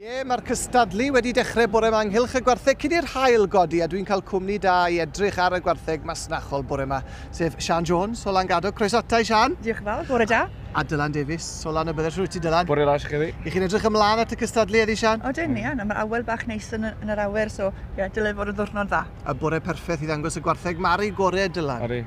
Ie, mae'r cystadlu wedi dechrau bore yma ynghylch y gwartheg cyn i'r hael godi a dwi'n cael cwmni da i edrych ar y gwartheg masnachol bore yma, sef Sian Jones o Langado. Croes atai, Sian. Diolch yn fawr, bore da. A Dylan Davies o Lan y Byddell. Rwyt ti, Dylan. Bore da, chi chi. I chi'n edrych ymlaen at y cystadlu eddi, Sian? O, dyn, Ian. Mae awel bach neis yn, yn yr awyr, so ie, dylai fod yn ddwrnod dda. A bore perffaith i ddangos y gwartheg Mari gorau, Dylan. Ori.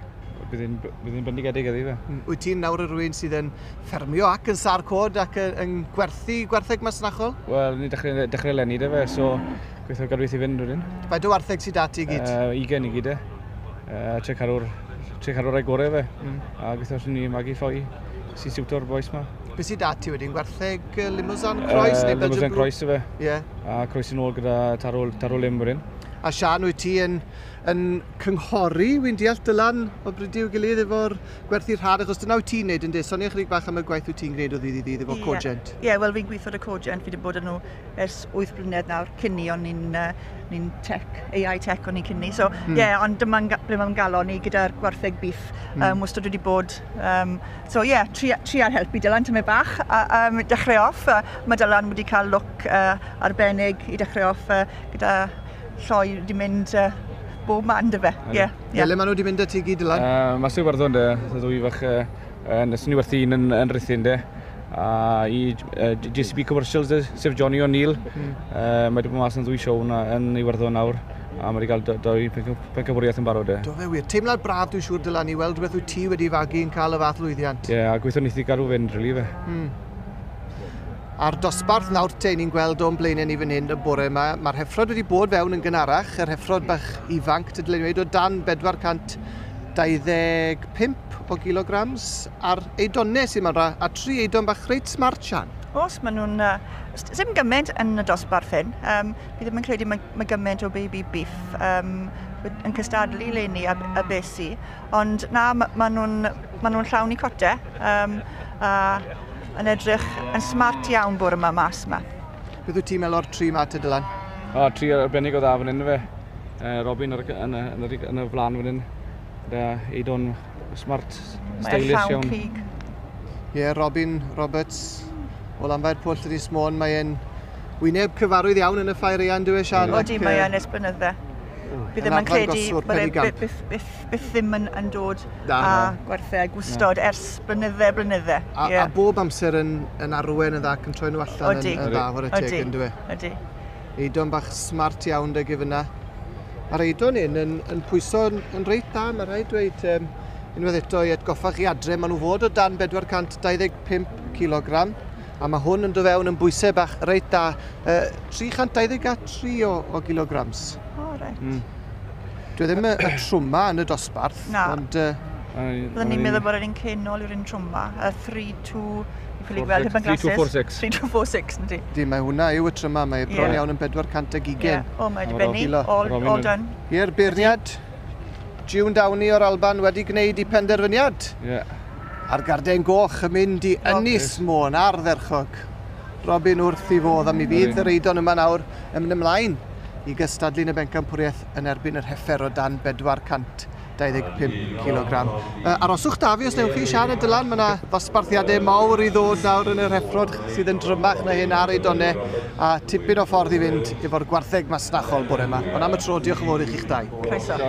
Bydd hi'n bydd hi'n bendigedig ydi fe. Hmm, wyt ti'n nawr yr un sydd yn ffermio ac yn sar cod ac yn gwerthu gwertheg masnachol? Wel, ni dechrau, dechrau lenni da fe, so gweithio gadw i fynd rydyn. Faint o wartheg sydd dati i gyd? Uh, 20 i gyd e. Uh, tre carwr, tre carwr ei gorau fe. Mm. A gweithio sy'n ni magu ffoi sy'n siwto'r boes ma. Be sydd dati wedyn? Gwertheg uh, Limousin Croes uh, neu Belgian Limousin Croes efe. Ie. Yeah. A Croes yn ôl gyda tarol, tarol lim wedyn. A Sian, wyt ti yn yn cynghori, wi'n deall, Dylan, o bridio i'w gilydd efo'r gwerthu rhad, achos dyna wyt ti'n neud yn de, sonia chydig bach am y gwaith wyt ti'n gwneud o ddydd i ddydd efo Cogent. Ie, ie, wel fi'n gweithio y Cogent, fi wedi bod yn nhw ers 8 blynedd nawr, cyn ni, o'n ni'n uh, ni tech, AI tech o'n ni cyn ni, so hmm. ie, mm. yeah, ond dyma'n ble mae'n galon ni gyda'r gwartheg bif, mm. um, wastad wedi bod, um, so ie, yeah, tri, tri ar helpu Dylan tymau bach, a, um, dechrau off, uh, mae Dylan wedi cael look uh, arbennig i dechrau off uh, gyda lloi di mynd uh, bob man dy fe. Ie. Yeah, yeah. Le maen nhw di mynd y ti gyd lan? Uh, mae sy'n warddon dy, dy ddwy fach uh, yn ysyn i werthu un yn, yn rhythyn dy. A i uh, JCB Commercials dy, sef Johnny O'Neill. Mm. Uh, mae wedi bod mas yn ddwy siow na, yn ei warddon nawr. A mae wedi cael dwy pencafwriaeth yn barod e. Do fe wir. Teimlad braf dwi'n siŵr dylan i weld beth wyt ti wedi fagu yn cael y fath lwyddiant. Ie, yeah, a gweithio neithi gael rhyw fynd, rili fe. Mm. A'r dosbarth nawr te ni'n gweld o'n blaenau ni fan hyn y bore yma, mae'r heffrod wedi bod fewn yn gynharach, yr heffrod bach ifanc, tydyn ni'n dweud o dan 425 o gilograms, a'r eidonau sy'n yma, a tri eidon bach reit smart, Sian. Os maen nhw'n... ddim gymaint yn y dosbarth hyn, um, fi ddim yn credu mae, mae gymaint o baby beef um, yn cystadlu le ni a, a besi, ond na, maen nhw'n ma nhw llawn i cote, um, a Yn edrych yn smart iawn bore yma mas yma. Beth wyt ti'n meddwl o'r tri ma te Dylan? O, oh, tri arbennig o dda fan hyn fe. Uh, Robin ar, yn, y, yn, y, yn y flan fan hyn. Da, Eidon smart, stylish iawn. Mae'n llawn cig. Ie, yeah, Robin Roberts o Lanfair Pwll yn Ys Môn. Mae'n wyneb cyfarwydd iawn yn y ffair eian, dwi eisiau. Odi, mae'n esblynydd fe. Bydd ddim yn credu bod e byth, byth, byth byth ddim yn, yn dod Na, a na. gwerthau a gwstod Na. ers blynydde a blynydde. A, yeah. a bob amser yn, yn arwen yn dda ac yn troi nhw allan Odi. yn, yn dda, hwre teg yn dwi. Odi. Eidon bach smart iawn dy gyfyna. Mae'r eidon hyn yn, yn pwyso yn, yn reit dda, mae rhaid dweud um, unwaith eto i atgoffa chi adre, maen nhw fod o dan 425 kg A mae hwn yn dod fewn yn bwysau bach reit da, uh, 323 o, o gilograms. O, oh, reit. Mm. Dwi ddim y, y trwma yn y dosbarth, Na. ond... Uh, Byddwn ni'n meddwl bod yr un cenol yw'r un trwma, y 3-2, i ffili gweld heb yn glasses. 3246. 3246, nid i. Di, mae hwnna yw y tryma, mae bron yeah. iawn yn 400 ag ugen. Yeah. O, mae wedi benni, all, all done. Ie'r beirniad, June Downey o'r Alban wedi gwneud i penderfyniad. Yeah. A'r garden goch yn mynd i Ynys Môn, ardderchog. Robin wrth ei fodd a mi fydd yr Eidon yma nawr yn mynd ymlaen i gystadlu yn y bencampwriaeth yn erbyn yr Heffer o dan 425 cilogram. Uh, aroswch da fi os newch chi, Sian a Dylan, mae yna ddosbarthiadau mawr i ddod nawr yn yr heffrod sydd yn drymach na hyn ar Eidonau a tipyn o ffordd i fynd efo'r gwartheg masnachol bore yma. Ond am y tro, diolch yn fawr i chi'ch dau. Croeso.